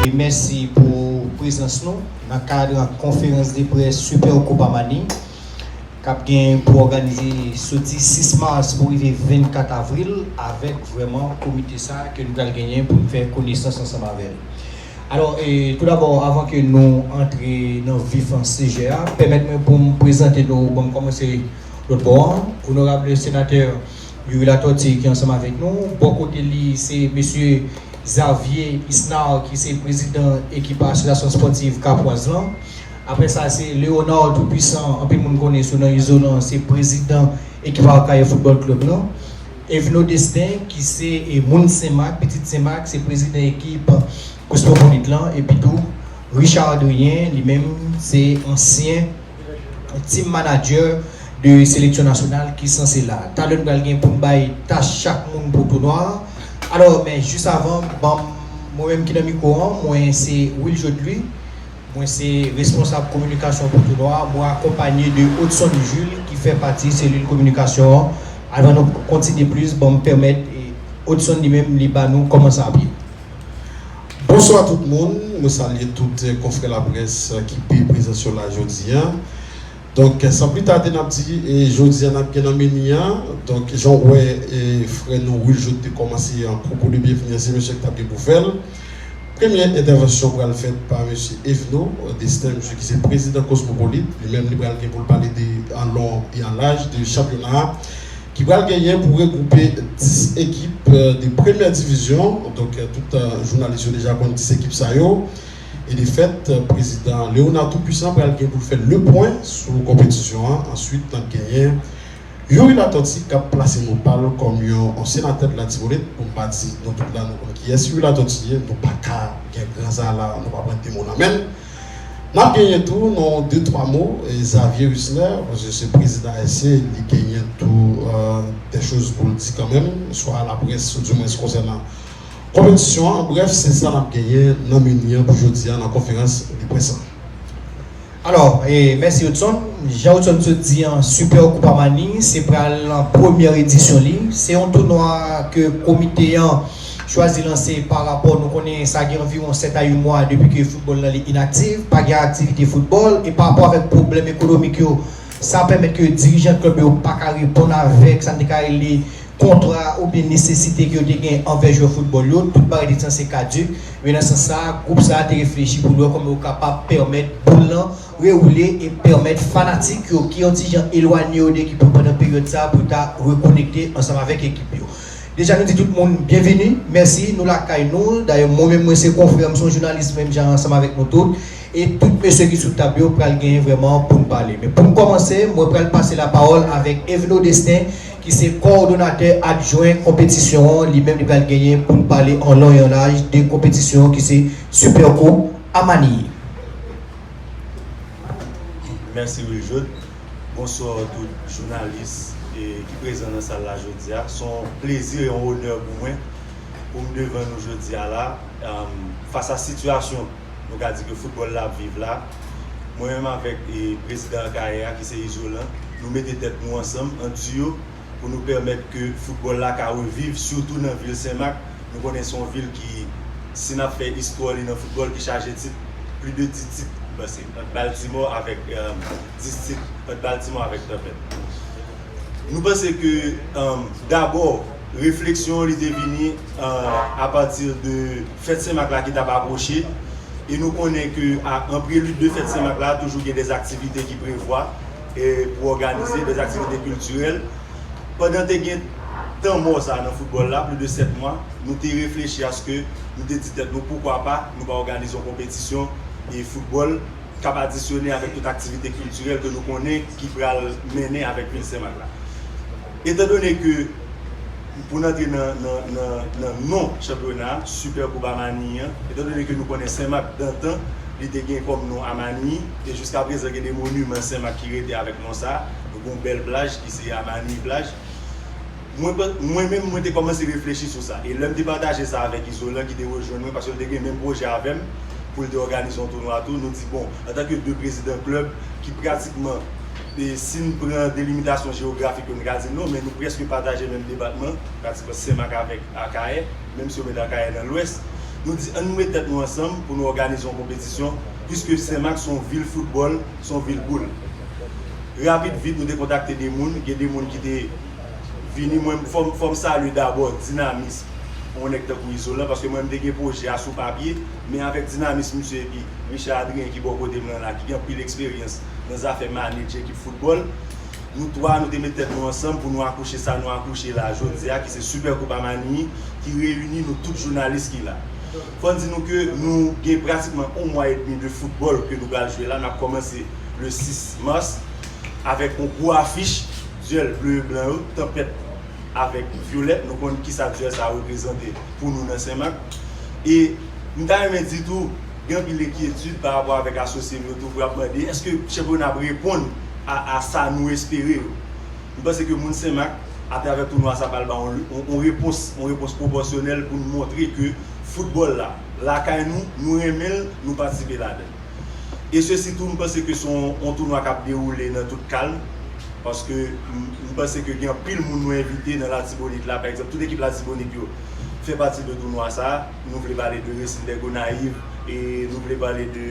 e mèsi pou prezans nou nan kad konferans de près Super Copa Mani k ap gen pou òganize soti 6 mas pou rive 24 avril avèk vrèman komite sa ke nou pral genyen pou n fè konesans ansanm avè l. Alò, tou dabò, avan ke nou antre nan vif sijè a, pèmèt mwen pou m prezante nou, bon m kòmanse lòt bò an, Onorable Senatè Youri Latortue ki ansanm avèk nou. Bò kote li, se Mesye Xavier Isnard ki se Prezidan ekip Asosyasyon Spòtiv Kapwaz lan. Aprè sa, se Léonard Tout-Puissant, anpil moun konnen sou non Izolan, se Prezidan ekip Arcahaie Football Club lan. Evno Destin ki se moun Senmak, pitit Senmak, se prezidan ekip Kosmopolit lan epitou Richard Adrien li menm se ansyen Team Manager de seleksyon nasyonal ki sanse la. Talè n pral gen pou n bay tach chak moun pou tounwa an. Alò men jis avan banm mwen menm ki nan mikwo an mwen se Wiljoud Louis Mwen se responsab kominikasyon pou tounwa a, mwen akonpanye de Odson Jules ki fè pati selil kominikasyon an, avan nou kontinye plis banm pèmèt Odson li menm li ba nou kòman sa ap ye. Bonswa tout moun, mwen salye tout konfrè laprès ki pe prezans yo la jodi a. Donk san pli tade nap di jodi a nap gen nan meni a, donk jan ou wè frè nou Wiljoth te kòmanse an pwopo de byenvni an se mesye ki tap gen pou fèl. Premyè entèvansyon pral fèt pa mesye Evno Destin mesye ki se prezidan Cosmopolite li menm li pral gen poul pale de an long e an laj de chanpyona a ki pral genyen pou regwoupe 10 ekip de premyè divizyon donk tout jounalis yo deja konn ki se ekip sa yo. E de fèt, prezidan Léonard Tout-Puissant pral gen pou l fè lepwen sou konpetisyon an. Answit, n ap genyen Youri Latortue k ap plase mo pa l kòm yon senatè de Latibonit. Pou m pa di nou tout la nou konn kiyès Youri Latortue ye, nou pa ka gen gran zala nou pa pran de mo nan men l. N ap genyen tou non de twa mo Xavier Husner, paske se prezidan ASC, li genyen tou dè choz pou l di kanmenm, swa a laprès ou dimwens konsènan Konpetisyon an, an brèf, se sa n ap genyen nan meni an pou jodi a nan konferans de près an. Alò, mèsi Hudson. Jan Hudson t sot di an, Super Koupa Mani se pral nan premyè edisyon li. Se yon tounwa ke komite an chwazi lanse pa rapò nou konnen sa gen anviwon 7 a 8 mwa depi ke foutbòl nan li inaktiv, pa gen aktivite foutbòl e pa rapò avèk pwoblèm ekonomik yo, Sa pèmèt ke dirijan klèb yo pa ka reponn avèk sa n te ka rele kontra oubyen nesesite ke yo te gen anvè jwè foutbòl yo. Tout bagay te sanse kaduk. Men nan sans sa a, gwoup sa a te reflechi pou l wè kòman yo kapab pèmèt boul lan rewoule e pèmèt fanatik yo ki yon ti jan elwanye yo de ekip yo pandan peryòd sa a pou yo ta rekonekte ansanm avèk ekip yo. Deja nou di tout moun byenvini. Mèsi. Nou lakay nou. Dayè mwen menm mwen se konfrè, m se yon jounalis menm jan ansanm avèk nou tout. E tout mesye ki sou tab yo pral genyen vrèman pou n pale. Men pou n kòmanse, mwen pral pase lapawòl avèk Evno Destin ki se kowòdonatè adjwen konpetisyon an, li menm li pral genyen pou l pale an lon e an laj de konpetisyon an ki se Superco a Manille. Mèsi Wiljoud. Bonswa tout jounalis ki prezan nan sal la jodi a. Son plezi e yon onè pou mwen pou m devan nou jodi a la fas a sitiyasyon Nou ka di ke foutbòl la ap viv la. Mwen menm avèk prezidan Akayè a ki se Izolan, nou mete tèt nou ansanm an diyo pou nou pèmèt ke foutbòl la ka reviv sitou nan vil Senmak. Nou konnen se yon vil ki, si n ap fè istwa li nan foutbòl, ki chaje tit, plis de 10 tit pase ant Baltimò avèk, 10 tit ant Baltimò avèk Tanpèt. Nou panse ke dabò refleksyon li te vini apati de. Fèt Sen Mak la ki tap apwoche e nou konnen ke an prelid de fèt Sen Mak la toujou gen dè aktivite ki prevwa pou òganize, dè aktivite kiltirèl. Pandan te gen tan mò sa nan foutbòl la, plis de 7 mwa, nou te reflechi aske nou te di tèt nou poukwa pa nou pa òganize yon konpetisyon e foutbòl kap adisyone avèk tout aktivite kiltirèl ke nou konnen ki pral mennen avèk vil Sen Mak la. Etandone ke. Pou n antre nan non chanpyona a, Super Koup Amanyi an, etan done ke nou konnen Sen Mak dantan li te gen kòm non Amanyi, e jiska prezan gen de moniman Sen Mak ki rete avèk non sa a, nou gen yon bèl plaj ki se Amanyi plaj. Mwen menm mwen te kòmanse reflechi sou sa, e lè m te pataje sa avèk Izolan ki te rejwenn mwen paske l te gen menm pwojè avè m pou l te òganize yon tounwa tou, nou di bon, antanke 2 prezidan klèb ki pratikman. Si n pran delimitasyon jewografik yo, n ka di non, men nou prèske pataje menm depatman, pratiman Senmak avèk Akayè, menm si yo met Akayè nan lwès. Nou di annou met tèt nou ansanm pou nou òganize yon konpetisyon, piske Senmak se yon vil foutbòl, se yon vil boul. Rapid vit nou te kontakte de moun, gen de moun ki te vini, mwen fò m salye dabò dinamism yon nèg tankou Izolan, paske mwen m te gen pwojè a sou papye, men avèk dinamism misye epi Richard Adrien ki bò kote m lan la, ki gen anpil eksperyans. nan zafè maneje ekip foutbòl. Nou 3 nou te met tèt nou ansanm pou nou akouche sa nou akouche la jodi a ki se Super Koupa Manini ki reyini nou tout jounalis ki la. Fò n di nou ke nou gen pratikman 1 mwa edmi de foutbòl ke nou pral jwe la, nap kòmanse le 6 mars avèk yon gwo afich duèl ble e blan yo, Tanpèt avèk Vyolèt, nou konn kisa duèl sa reprezante pou nou nan Senmak. E m ta renmen di tou. Gen anpil enkyetid pa rapò avèk asosye nou yo toujou ap mande èske chanpyona ap reponn a sa nou espere yo. M panse ke moun Senmak atravè tounwa sa pral ba yon repons, yon repons pwopòsyonèl pou nou montre ke foutbòl la lakay nou, nou renmen l, nou patisipe ladan l. E sesi tou m panse ke se yon tounwa k ap dewoule nan tout kalm paske m panse ke gen anpil moun nou envite nan Latibonit la pa egzanp tout ekip Latibonit yo fè pati de tounwa sa. Nou vle pale de resil dè Gonayiv e nou vle pale de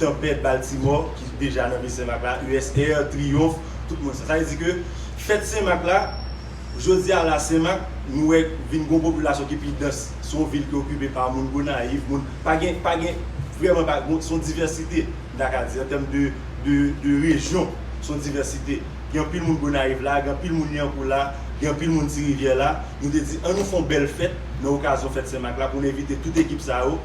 tanpèt Baltimò ki deja nan vil Senmak la, USR, Triyonf, tout moun sa. Sa vle di ke fèt Senmak la, jodi a la Senmak nou wè vin gon popilasyon ki pi dans. Se yon vil ki okipe pa moun Gonayiv, moun, pa gen, pa gen, vrèman pa, se yon divèsite, m ta ka di, an tèm de rejyon, se yon divèsite. Gen anpil moun Gonayiv la, gen anpil moun Lyankou la, gen anpil moun Ti Rivyè la. Nou te di, an nou fè yon bèl fèt nan okazyon fèt Sen Mak la pou n envite tout ekip sa yo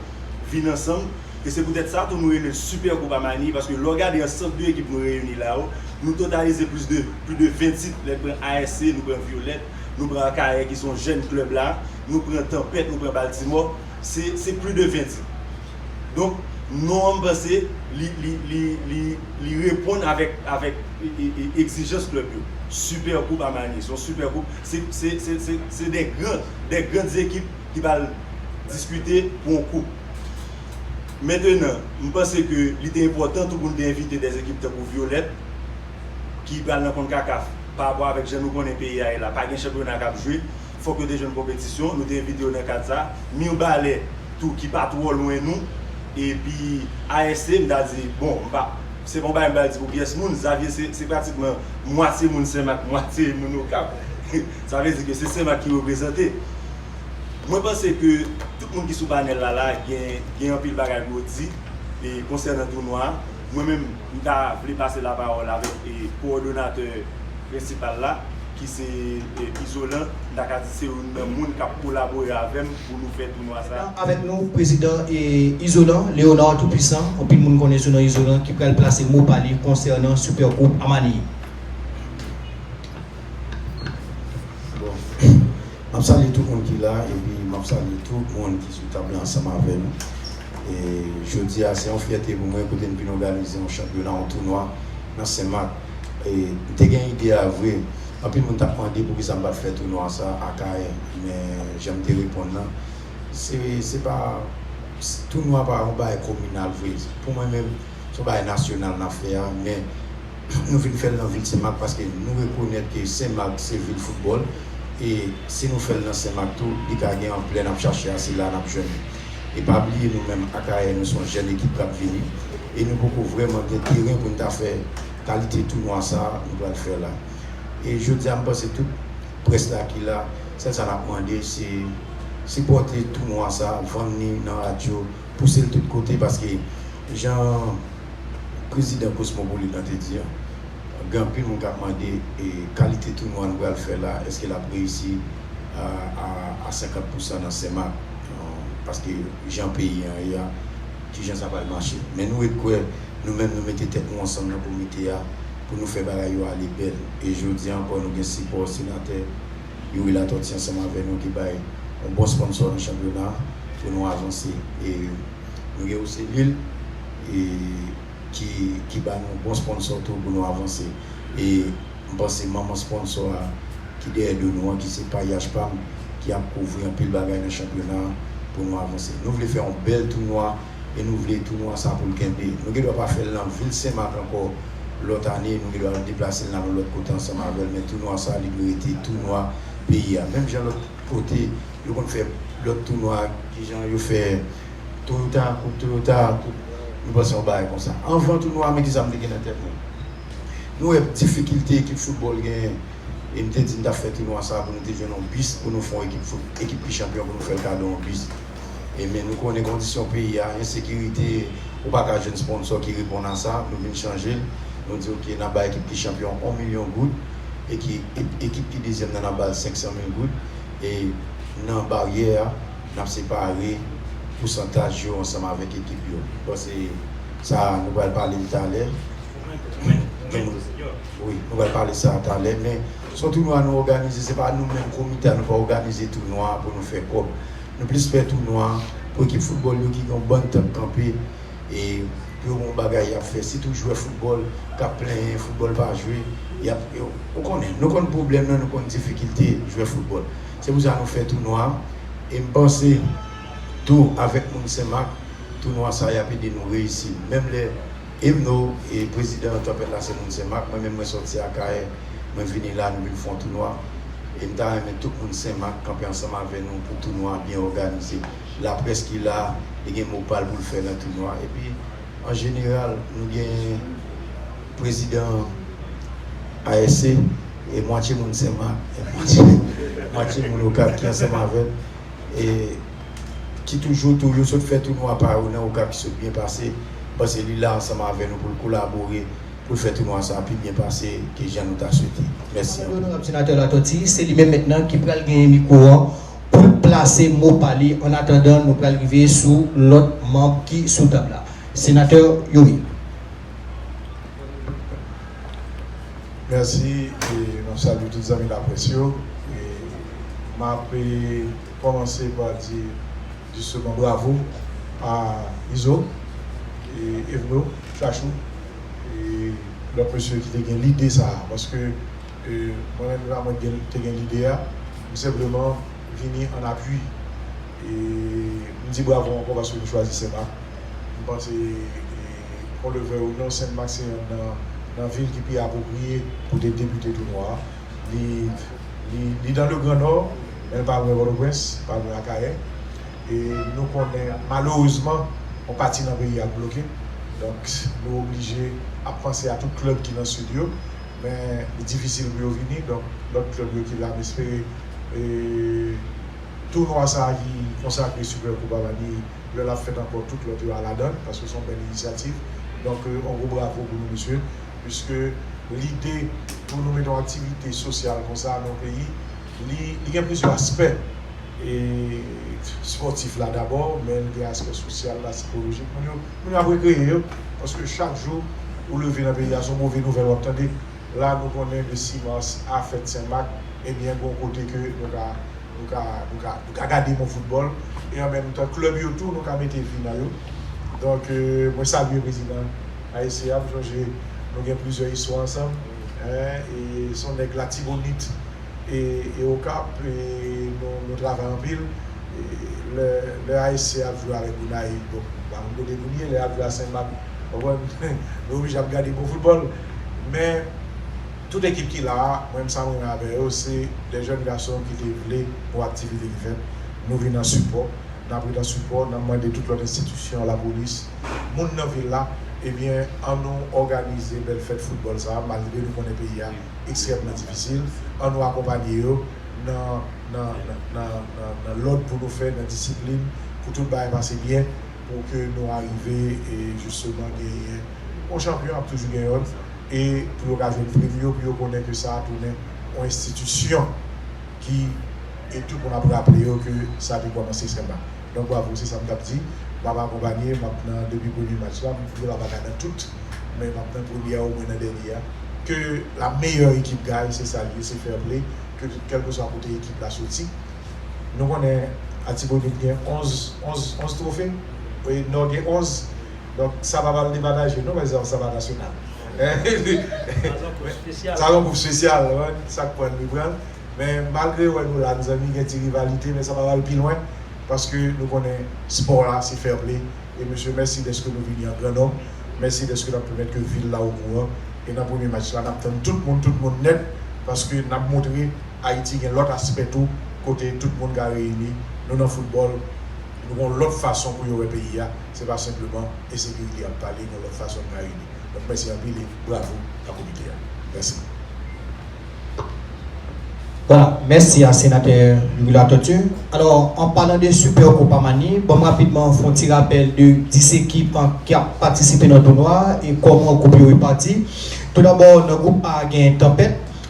vin ansanm. E se poutèt sa tou nou rele l Sipè Koupa Mani paske lè w gade ansanp de ekip nou reyini la yo, nou totalize plis de plis de 20 tit. Lè n pran ASC, nou pran Vyolèt, nou pran Akayè ki se yon jèn klèb la, nou pran Tanpèt, nou pran Baltimò, se se plis de 20 tit. Donk non an m panse li reponn avèk egzijans klèb yo. Super koup a Miami, se yon super koup, se 2 gran, 2 gran ekip ki pral diskite pou yon koup. Mentenan, m panse ke li te enpòtan tou pou n te envite 2 ekip tankou Violèt ki pral nan Concacaf parapò avèk jan nou konnen peyi a ye la, pa gen chanpyona k ap jwe. fòk yo te jwenn konpetisyon, nou te envite yo nan kad sa. Mirbalè tou ki pa twò lwen nou. Epi ASC m ta di, bon m pa, se pa yon bagay m pral di pou pyès moun, Xavier se pratikman mwatye moun Senmak, mwatye moun Okap. Sa vle di ke se Senmak ki reprezante. Mwen panse ke tout moun ki sou panèl la la gen anpil bagay pou yo di konsènan tounwa a. Mwen menm. M ta vle pase lapawòl avèk kowòdonatè prensipal la ki se Izolan, m ta ka di se youn nan moun k ap kolabore avè m pou nou fè tounwa sa. Avèk nou prezidan Izolan, Léonard Tout Puissant, anpil moun konnen sou non Izolan, ki pral plase mo pa li konsènan Super Groupe Amani. Bon, m ap salye tout moun ki la epi m ap salye tout moun ki sou tab la ansanm avè nou. E jodi a se yon fyète pou mwen kote n vin òganize yon chanpyona, yon tounwa nan Sen Mak. E m te gen ide a vre. Anpil moun t ap mande poukisa m pa t fè tounwa sa a Akayè. Men jan m te reponn lan, se se pa tounwa pa yon bagay kominal vre. Pou mwen menm, se yon bagay nasyonal n ap fè a. Men nou vin fè l nan vil Sen Mak paske nou rekonèt ke Sen Mak se vil foutbòl. E si nou fè l nan Sen Mak tou, li ka gen anplè n ap chache a, se la n ap jwenn li. E pa bliye nou menm Akayè nou se yon jèn ekip k ap vini e nou poko vrèman gen teren pou n ta fè kalite tounwa sa a nou pral fè la. E jodi a m panse tout près la ki la, sèl sa n ap mande se sipòte tounwa sa a, vann ni nan radyo, pouse l tout kote paske jan prezidan Kosmopolit lan te di an, gen anpil moun k ap mande e kalite tounwa nou pral fè la èske l ap reyisi a 50 pousan nan Senmak. Paske jan peyi an ye a, ki jan sa pral mache. Men nou ret kwè, nou menm nou mete tèt nou ansanm nan komite a pou nou fè bagay yo ale bèl. E jodi an ankò nou gen sipò senatè Youri Latòti ansanm avè nou ki bay yon bon sponsò nan chanpyona a pou nou avanse. E nou gen Oselil ki ba nou yon bon sponsò tou pou nou avanse. E. M panse manman sponsor a ki dèyè do nou an ki se pa Yash pam ki ap kouvri anpil bagay nan chanpyona a pou nou avanse. Nou vle fè yon bèl tounwa e nou vle tounwa sa pou l kenbe. Nou gen dwa pa fè l nan vil Senmak ankò lòt ane, nou gen dwa deplase l nan yon lòt kote ansanm avè l men tounwa sa li dwe rete tounwa peyi a. Menm jan lòt kote yo konn fè lòt tounwa ak kijan yo fè Toyota, koup Toyota, koup nou panse yon bagay konsa. Anvan tounwa a men kisa m te gen nan tèt mwen. Nou wè difikilte ekip foutbòl genyen e m te di n t ap fè tounwa sa a pou nou te jwenn yon bis pou nou fè yon ekip fout, ekip ki chanpyon pou nou fè l kado yon bis. E men nou konnen kondisyon peyi a, ensekirite, ou pa ka jwenn sponsò ki reponn a sa, nou vin chanje l, nou di ok n ap bay ekip ki chanpyon yon milyon goud e ki ekip ki dezyèm nan n ap ba l 500 mil goud e nan baryè a n ap separe pousantaj yo ansanm avèk ekip yo. Pase. Sa a nou pral pale l talè. Wi, nou pral pale sa a talè. Men, se yon tounwa nou òganize. Se pa nou menm komite a, nou pa òganize tounwa a pou nou fè kòb. Nou plis fè tounwa a pou ekip foutbòl yo ki gen yon bann tan kanpe e pou yo gen yon bagay y ap fè. Sitou jwè foutbòl k ap plenyen foutbòl pa jwe. Y ap, ou konnen, nou konn pwoblèm nan, nou konn difikilte jwè foutbòl. Se pou sa nou fè tounwa a e m panse. Tou avèk moun senmak tounwa sa yap ede nou reyisi menm lè Emno e prezidan tanpèt la se moun senmak mwen menm mwen sòti akayè mwen vini la nou vin fon tounwa e m ta renmen tout moun senmak kanpe ansanm avè nou pou tounwa byen òganize laprès ki la li gen mo pal poul fè nan tounwa epi an jeneral nou gen prezidan asc e mwatye moun senmak e mwatye moun okap ki ansanm avèm. e ki toujou tou yo sot fè tounwa pa yo nan Okap ki sot byen pase, m panse li la ansanm avè nou pou l kolabore pou l fè tounwa sa a pi byen pase ke jan nou ta swete. Mèsi anpil. Onorab Senatè Latòti, se li menm mentnan ki pral genyen mikwo an pou l plase mo pa li an atandan nou pral rive sou lòt manb ki sou tab la. Senatè Youri. Mèsi e map salye tout zanmi laprès yo e map kòmanse pa di jisteman bravo a Izo e Evno, Chachou e lòt mesye ki te gen lide sa a paske mwen menm se pa mwen ki te gen lide a m senpleman vini an apui. E m di bravo ankò paske nou chwazi Senmak. M panse kon le vèy ou non Senmak se yonn nan vil ki pi apwopriye pou de depite tou nwa. Li dan le gran nò men l pa lwen Pòtoprens, l pa lwen Akayè. E nou konnen malerezman yon pati nan peyi a k bloke. Donk nou oblije ap panse a tout klèb ki nan sid yo. Men li difisil pou yo vini. Donk lòt klèb yo ki la m espere. Tounwa sa ki konsakre Super Koupa Bani lè lap fèt ankò tout lòt yo a ladann paske son bèl inisyativ donk on gwo bravo pou nou mesye piske lide pou nou mete on aktivite sosyal konsa nan peyi li li gen plizyè aspè e spòtif la dabò men li gen aspè sosyal la sikolojik moun yo moun yo ap rekreye yo paske chak jou ou leve nan peyi a son move nouvèl wap tande. La nou konnen le 6 mars a fèt sen mak ebyen gon kote ke nou ka nou ka nou ka nou ka gade bon foutbòl e an menm tan klèb yo tou nou ka mete vi nan yo donk mwen salye prezidan ayisyen an m sonje nou gen plizyè istwa ansanm e son nèg latibonit e e okap e nou nou travay anpil lè lè ayisyen ap jwe avèk gonayiv bon m pa konn kote pou n ye lè yap jwe a sen mak konprann nou oblije ap gade bon foutbòl. men tout ekip ki la a mwen sa m renmen avè yo se de jèn gason ki te vle pou aktivite ki fèt nou vin an sipò n ap ret an sipò n ap mande tout lòt enstitisyon lapolis moun nan vil la ebyen an nou òganize bèl fèt foutbòl sa a malgre nou konnen peyi a ekstrèmman difisil an nou akonpanye yo nan nan lòd pou nou fè nan disiplin pou tout bagay pase byen pou ke nou arive e jisteman genyen yon chanpyon ap toujou gen yonn e pou yo ka jwenn prim yo pou yo konnen ke sa tounen yon enstitisyon ki e tout moun ap raple yo ke sa te kòmanse Senba donk bwavo se sa m tap di m ap akonpanye m ap nan depi premye match la m vle m ap aka nan tout men m ap nan premye a omwen nan dènye a ke la meyè ekip gaye se sa l ye se fair play ke kèlkeswa kote ekip la soti. Nou konnen Atibonit gen 11 twofe, Nò gen 11, donk sa pa pral depataje non mèzanmi, sa pa nasyonal. Sa yon koup spesyal, sak prann li prann. Men malgre wè nou la mezanmi gen ti rivalite men sa pa pral pi lwen paske nou konnen spò a se fèple e mesye mèsi dèske nou vini an gran nonm, mèsi dèske nap pèmèt ke vil la okouran e nan premye match la nap tann tout moun, tout moun nèt paske nap montre. Ayiti gen lòt aspè tou kote tout moun ka reyini, nou nan foutbòl, nou gen yon lòt fason pou yo wè peyi a, se pa senpleman ensekirite y ap pale, gen yon lòt fason n ka reyini. Donk mèsi anpil e bravo a komite a. Mèsi. Wala, mèsi a senatè Youri Latortue. Alò, an palan de Super Copa Mani, ban m rapidman fè yon ti rapèl de 10 ekip ki ap patisipe nan tounwa a e kòman gwoup yo repati. Toudabò, nan gwoup A genyen Tanpèt.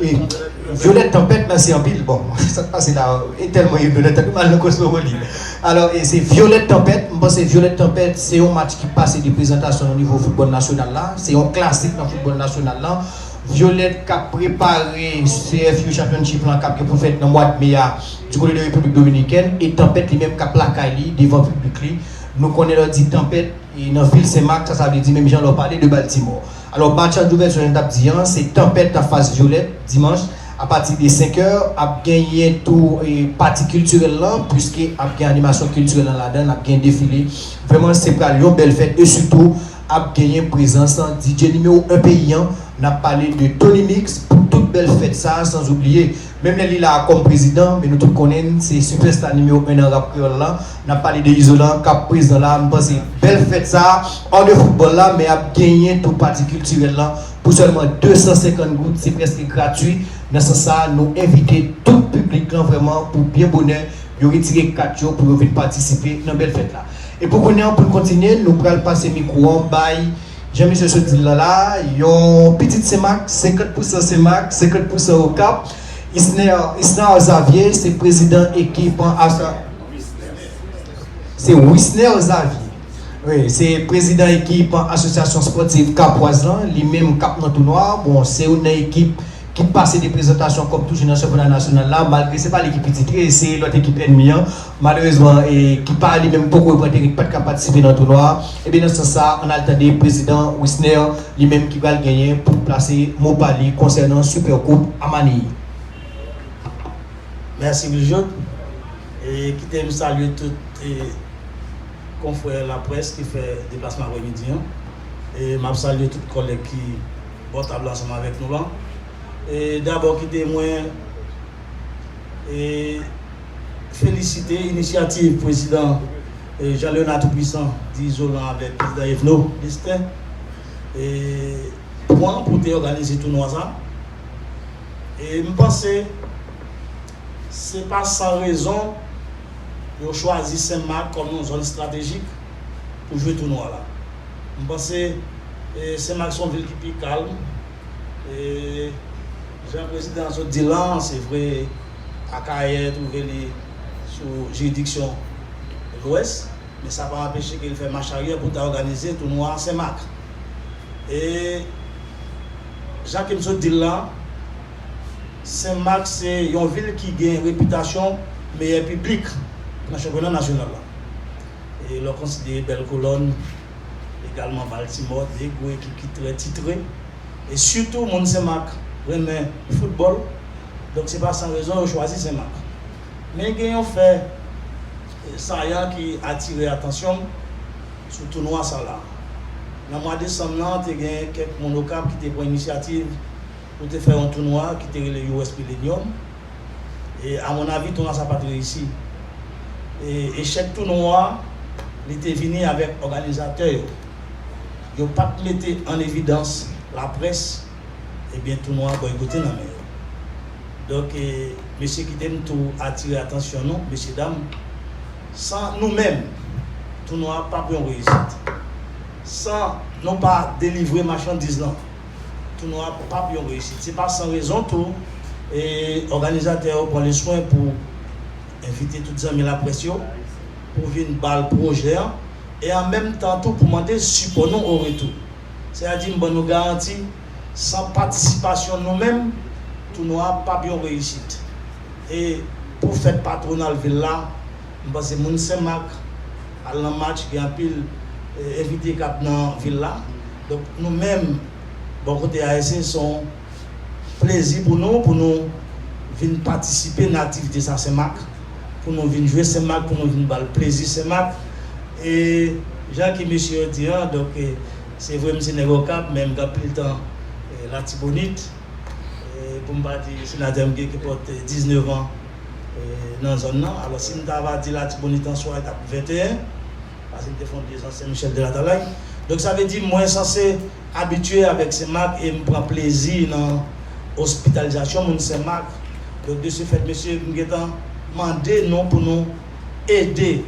E violette tanpèt nan se anpil bon sak pase la e telman ye violette anpil mal nan kosmowoli alò e se violette tanpèt m panse violette tanpèt se yon match ki pase de prezantasyon nan nivo foutbòl nasyonal la se yon klasik nan foutbòl nasyonal lan violette kap prepare CFU championship lan kap gen pou fèt nan mwad me a du kote de repiblik dominikèn e tanpèt li menm kap lakay li devan piblik li nou konnen lè w di tanpèt e nan vil senmak sa sa vle di menm jan lè w pale de baltimore Alò Machan Jouvèl Jwenn t ap di an, se Tanpèt an fas Vyolèt, dimanch, apati de 5 è. Ap genyen tou pati kiltirèl lan, puiske ap gen animasyon kiltirèl lan ladan l, ap gen defile. Vrèman, se pral yon bèl fèt e sitou ap genyen prezans DJ nimewo 1 peyi an. N ap pale de Tony Mix pou tout bèl fèt sa a, sanzoubliye Menm lè li la a kòm prezidan, men nou tout konnen n se sipèsta nimewo 1 nan rap kreyòl la, n ap pale de Izolan k ap prezan la a, m panse bèl fèt sa a, hors de foutbòl la, men ap genyen tou pati kiltirèl lan pou sèlman 250 goud, se prèske gratui, nan sans sa a nou envite tout piblik lan vrèman pou byen bonè yo retire kat yo pou yo vin patisipe nan bèl fèt la. E pou kounye an pou n kontinye, nou pral pase mikwo an bay. Jan misye sot di l lan la, yon pitit Senmak, 50 pousan Senmak, 50 pousan Okap, Isner, Isnar Xavier, se prezidan ekip Arsenal. Se Wisner Xavier. Wi, se prezidan ekip Asosyasyon Spòtiv Kapwaz lan, li menm k ap nan tounwa a. Bon, se youn nan ekip ki pase de prezantasyon kòm toujou nan chanpyona nasyonal la, malgre se pa li ki pi titre, se lòt ekip ènmi an. Malerezman, ekip pa li menm poko reprann teren, ki pat ka patisipe nan tounwa a. Ebyen nan sans sa, ann al tande prezidan Wisner li menm ki pral genyen pou l plase mo pa li konsènan Super koup a Manille. Mèsi Wiljob. E kite m salye tout konfrè laprès ki fè deplasman apremidi an. E m ap salye tout kòlèg ki bò tab la ansanm avèk nou lan. E dabò kite mwen. felisite inisyativ pwezidan Jean Leonard Tout Pwisan di Izolan avèk pwezidan Evno Destin pwan pou te òganize tounwa sa e m panse se pa san rezon yo chwazi Sen Mak kòm yon zòn estratejik pou jwe tounwa la m panse Sen Mak se yon vil ki pi kalm e. Jan prezidan an sot di la an, se vre Akayè twouve li sou jiridiksyon Lwès, men sa pa anpeche ke li fè mach aryè pou l ta òganize tounwa Senmak. E jan ke m sot di l la an, Senmak se yon vil ki gen repitasyon meyè piblik nan chanpyona nasyonal la. E lè w konsidere bèl kolòn. egalman Baltimore, de gwo ekip ki trè titre, e sitou moun Sen Mak renmen foutbòl, donk se pa san rezon yo chwazi Sen Mak. Men gen yon fè sayan ki atire atansyon m sou tounwa sa la. Nan mwa desanm lan te gen kèk moun Okap ki te pran inisyativ pou te fè yon tounwa ki te rele US Millenium, E a mon avi tonal sa pat reyisi. E echèk tounwa a li te vini avèk òganizatè yo. Yo pat mete an evidans laprès ebyen tounwa a bòykote nan men yo. Donk mesye kite m tou atire atansyon nou mesye dam san nou menm tounwa a pap yon reyisit. San nou pa delivre machandiz lan Tounwa a pap yon reyisit. Se pa san rezon tou, òganizatè yo pran le swen pou envite tout zanmi laprès yo pou vin bal pwojè an e an menm tan tou pou mande sipò nou o retou. Se a di m ban nou garanti, san patisipasyon nou menm, tounwa a pap yon reyisit. E pou fèt patwonal vil la, m panse moun Sen Mak al nan match, gen anpil envite k ap nan vil la. Donk nou menm bò kote a se son plezi pou nou pou nou vin patisipe nan aktivite sa Sen Mak pou nou vin jwe Sen Mak pou nou vin bal plezi Sen Mak e jan ke mesye yo di an donk se vre m se nèg Okap men m gen anpil tan Latibonit pou m pa di senatè m gen kipòt 19 an nan zòn nan alò si m ta va di Latibonit answa e tap 21. Pase m te fon pye san Sen Michel de Latalay donk sa vle di mwen sanse abitye avèk Sen Mak e m pran plezi nan ospitalizasyon moun Sen Mak donk de se fèt mesye m gentan mande nou pou nou ede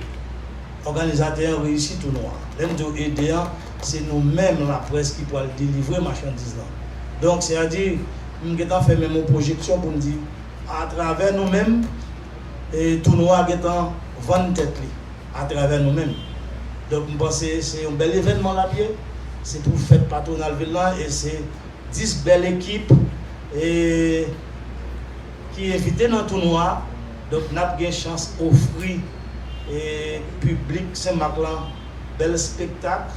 òganizatè an reyisi tounwa an lè m di w ede an se nou menm laprès ki pwal delivre machandiz lan donk se a di m gentan fè menm yon pwojeksyon pou m di atravè nou menm. e tono a gentan vann tèt li a travè nou menm donk m panse se yon bèl evènman lap ye se pou fèt patronal vil lan e se 10 bèl ekip e ki envite nan tono a donk nap gen chans ofri e piblik senmak lan bèl spektak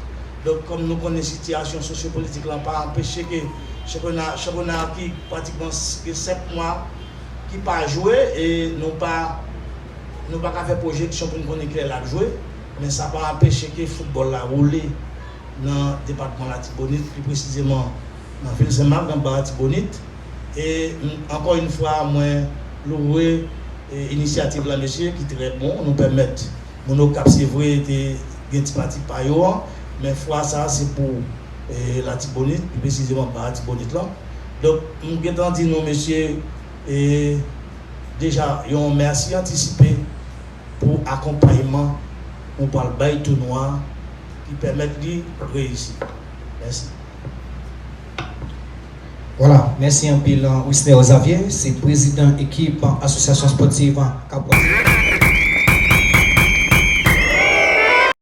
donk kòm nou konnen sitiyasyon sosyo politik lan pa anpeche ke chanpyona chanpyona ki pratikman gen 5 mwa. ki pa jwe e nou pa nou pa ka fè pwojeksyon pou n konnen kilè l ap jwe men sa pa anpeche ke foutbòl la woule nan depatman Latibonit pi presizeman nan vil Senmak nan ba Latibonit e ankò yn fwa mwen louwe inisyativ la mesye ki trè bon nou pèmèt moun Okap se vre te gen ti pati pa yo an men fwa sa se pou. Latibonit, pi presizeman nan Latibonit lan. Donk m gen tan di nou mesye deja yon mèsi antisipe pou akonpayman nou pral bay tounwa a ki pèmèt li reyisi. Mèsi. Vwala, mèsi anpil Wisner Xavier, se prezidan ekip Asosyasyon Spòtiv Kapwèz lan.